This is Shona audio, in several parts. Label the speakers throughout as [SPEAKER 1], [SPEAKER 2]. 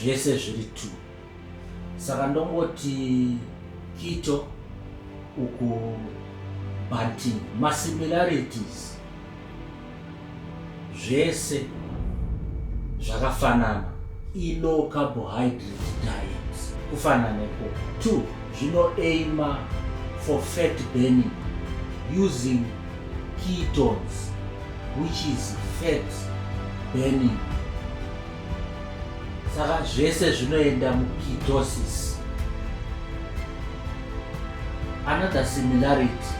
[SPEAKER 1] zvese zviri two saka ndongoti kito uku banting masimilarities zvese zvakafanana ilow carbohydrate diet kufanana neko two zvinoaima for fat burning using ketones which is fat burning saka zvese zvinoenda mukitosis another similarity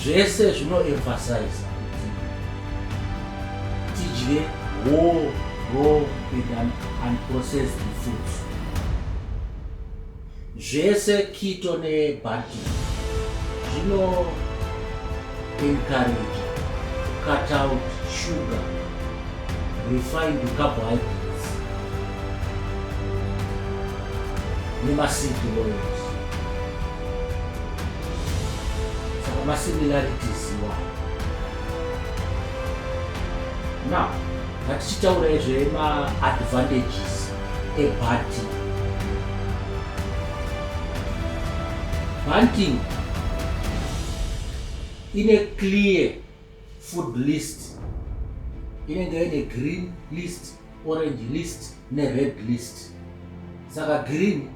[SPEAKER 1] zvese zvinoemphasiza kuti tidye whole raw and unprocessed foods Zvese kito ne bhati zvino encourage cut out sugar refined carbohydrates nemaseed oils saka masimilarities iwayo now Ngatichitaura zvema advantages ebhati. Hunting ine clear food list inenge ine green list orange list nered list saka green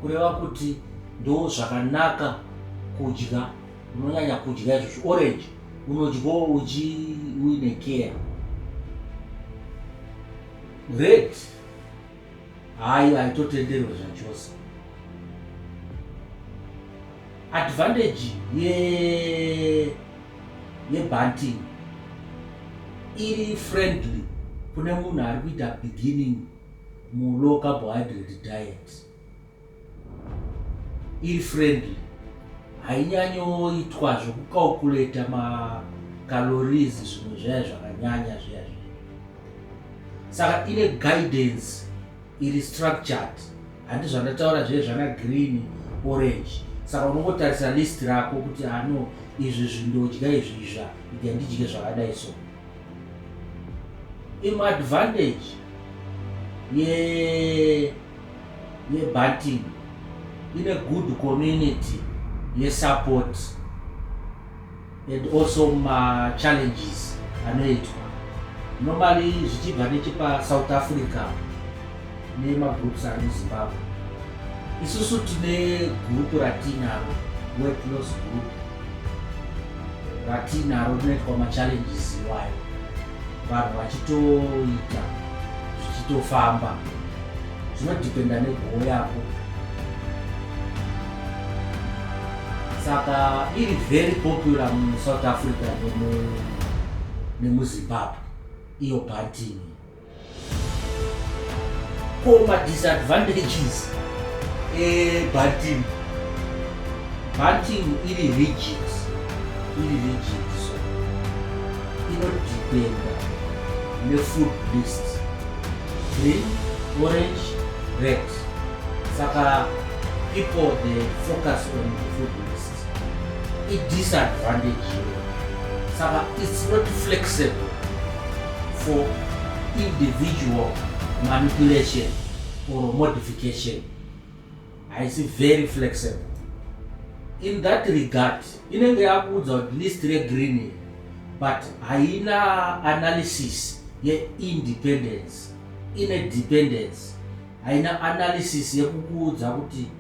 [SPEAKER 1] kureva kuti ndo zvakanaka kudya unonyanya kudya izvo zviorange unodyawo uchi uine care red hayi haitotenderwe zvachose advantage ye yebanting iri friendly kune munhu ari kuita beginning mulow carbohydrate diet iri friendly hainyanyoitwa zvekucalculata macalories zvimwe zvaya zvakanyanya zviya zviya saka ine guidance iri structured handi zvandataura zviye zvana green orange saka unongotarisa list rako kuti ano ah, izvi zvindodya izvi izva idi handidye zvakadai so imadvantage ye yeah. yeBatin ine good community yesupport and also machallenges anoitwa normally zvichibva nechepasouth africa nemagroups ari muzimbabwe isusu tine gurupu ratinaro wetlos group ratinaro rinoitwa machallenges iwayo vanhu vachitoita zvichitofamba zvinodhipenda negoho yako saka iri very popular musouth africa nemuzimbabwe iyo bhantini Ko ma disadvantages ebanting banting iri rigid iri rigid so inodependa nefood list green orange red saka people they focus on the food list idisadvantage iyoyo saka its not flexible for individual manipulation or modification haisi very flexible in that regard inenge yakuudza kuti list regreen but haina analysis yeindependence ine dependence haina analysis yekukuudza kuti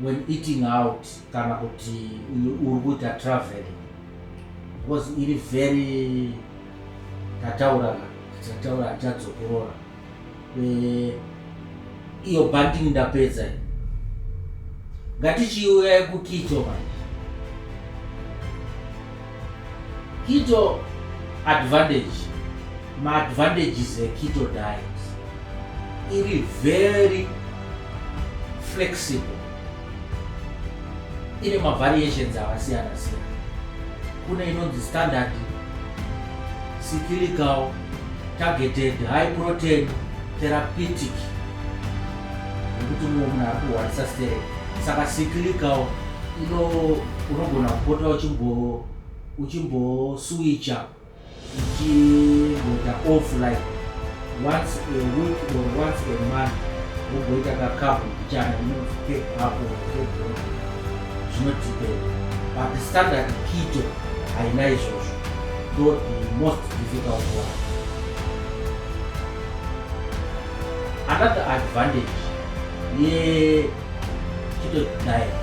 [SPEAKER 1] when eating out kana kuti uri kuita traveling because iri very tataurana tataura tichadzokorora eh, iyo banding ndapedza ngatichiuya yekukicho manje kicho advantage Maadvantages eketo diet iri very flexible, ine mavariations akasiyana siyana. Kune inonzi standard, cyclical, targeted, high protein, therapeutic yekuti mumwe munhu ari kuhwarisa sterek saka cyclical ino unogona kupota uchimbo uchimbosuwicha Tichigoita off like once a week or once a month ugoita kakapu kuchana inonzi cape apo kebro zvinotipera but standard kito haina izvozvo ndo the most difficult one another advantage yekito diet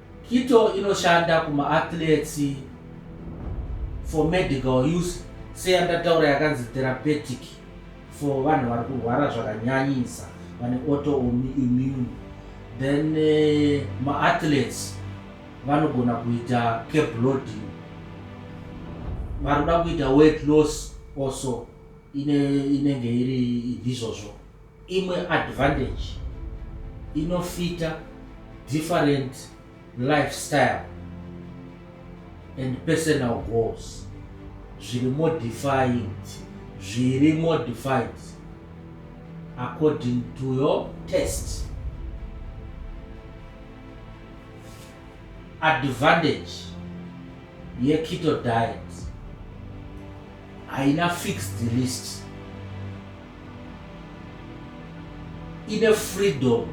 [SPEAKER 1] Kito inoshanda kumaathletes for medical use seyandataura yakanzi therapeutic for vanhu vari kurwara zvakanyanyisa vane autoimmune then eh, maathletes vanogona kuita cabloading varikuda kuita weight loss also inenge iri izvozvo Imwe advantage inofita different lifestyle and personal goals zviri modified zviri modified according to your test advantage yeketo diet haina fixed list ine freedom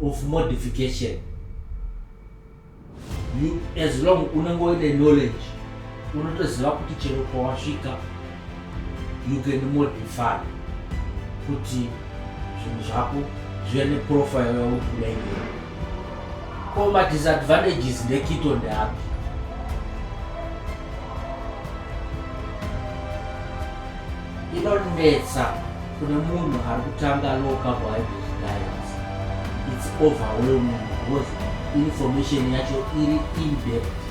[SPEAKER 1] of modification you as long unenge uine knowledge unotoziva kuti chero kwawasvika you can modify kuti zvinhu zvako zvive neprofile yauri kuda iyoyo ko madisadvantages ndekito ndeapi inonetsa kune munhu ari kutanga low carbohydrate diets its overwhelming because information yacho iri indepth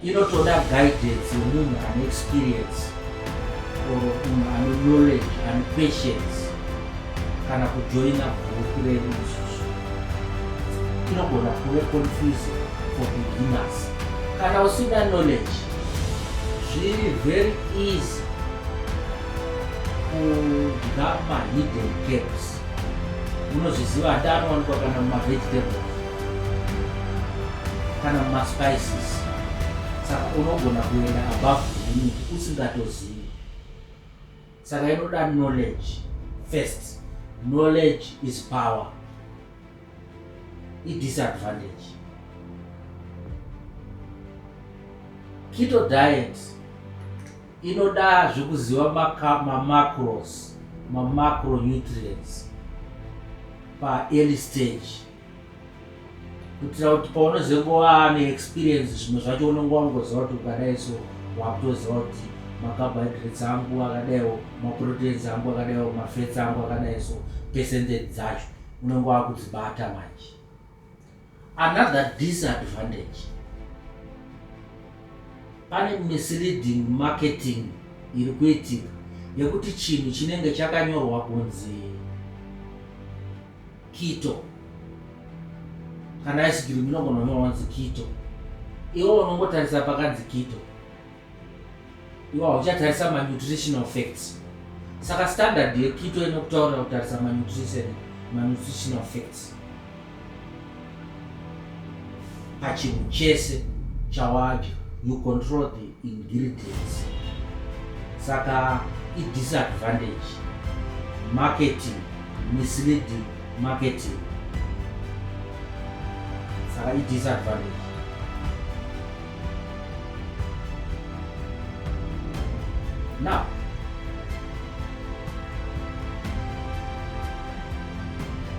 [SPEAKER 1] inotoda guidance yemunhu ane experience or munhu ane knowledge ane patience kana kujoina group redu isusu tinogona kuve confuse for beginners kana usina knowledge zviri very easy kudya mahidden gaps unozviziva hati anowanikwa kana mumavegetable kana mumaspices saka unogona kuenda above limit usingatozivi saka inoda knowledge first knowledge is power idisadvantage keto diet inoda zvekuziva mamacros mamacronutrients paearly stage kuitira kuti paunozengova neexperience zvimwe zvacho unenge wangoziva kuti ukadai so wakutoziva kuti macarbohydrates angu akadaiwo maproteins angu akadaiwo mafats angu akadai so percentage dzacho unenge wakudzibata manje another disadvantage pane misleading marketing iri kuitika yekuti chinhu chinenge chakanyorwa kunzi Kito. Kana ice cream inogona kunyorwa kunzi kito. Iwe unongotarisa pakanzi kito. Iwe hauchatarisa manutritional facts. Saka standard yekito inokutaurira kutarisa manutrition manutritional facts. pachinhu chese chawadya you control the ingredients saka idisadvantage marketing misleading marketing saka idisadvantage now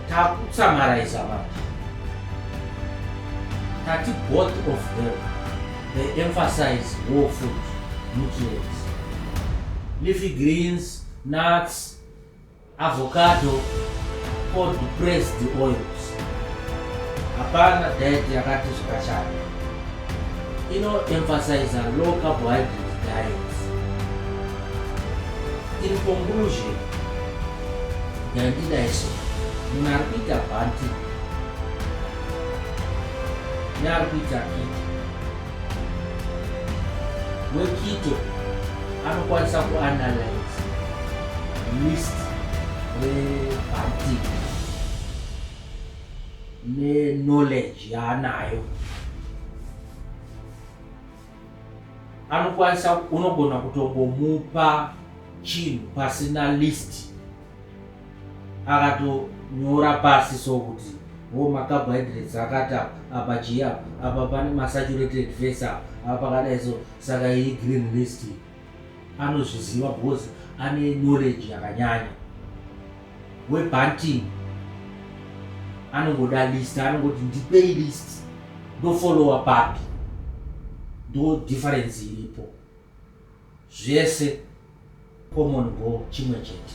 [SPEAKER 1] takutsamaraiza vanhu tati both of them they emphasize war food nutrients leafy greens nuts avocado cold pressed oils hapana diet yakati zvakashata inoemphasiza low carbohydrate diet in conclusion Ndandida iso. Munhu ari kuita bhanti. Ne ari kuita kiti. Wekito anokwanisa kuanalyze list rebhanti neknowledge yaanayo. anokwanisa unogona kutongomupa chinhu pasina list akatonyora pasi so kuti wo macarbohydrates akati apa apa chii apa apa pane masaturated fats apa apa pakadai so saka iyi green list iyi anozviziva because ane knowledge yakanyanya webunting anongoda list anongoti ndipei list ndofollowa papi ndo difference iripo zvese common go chimwe chete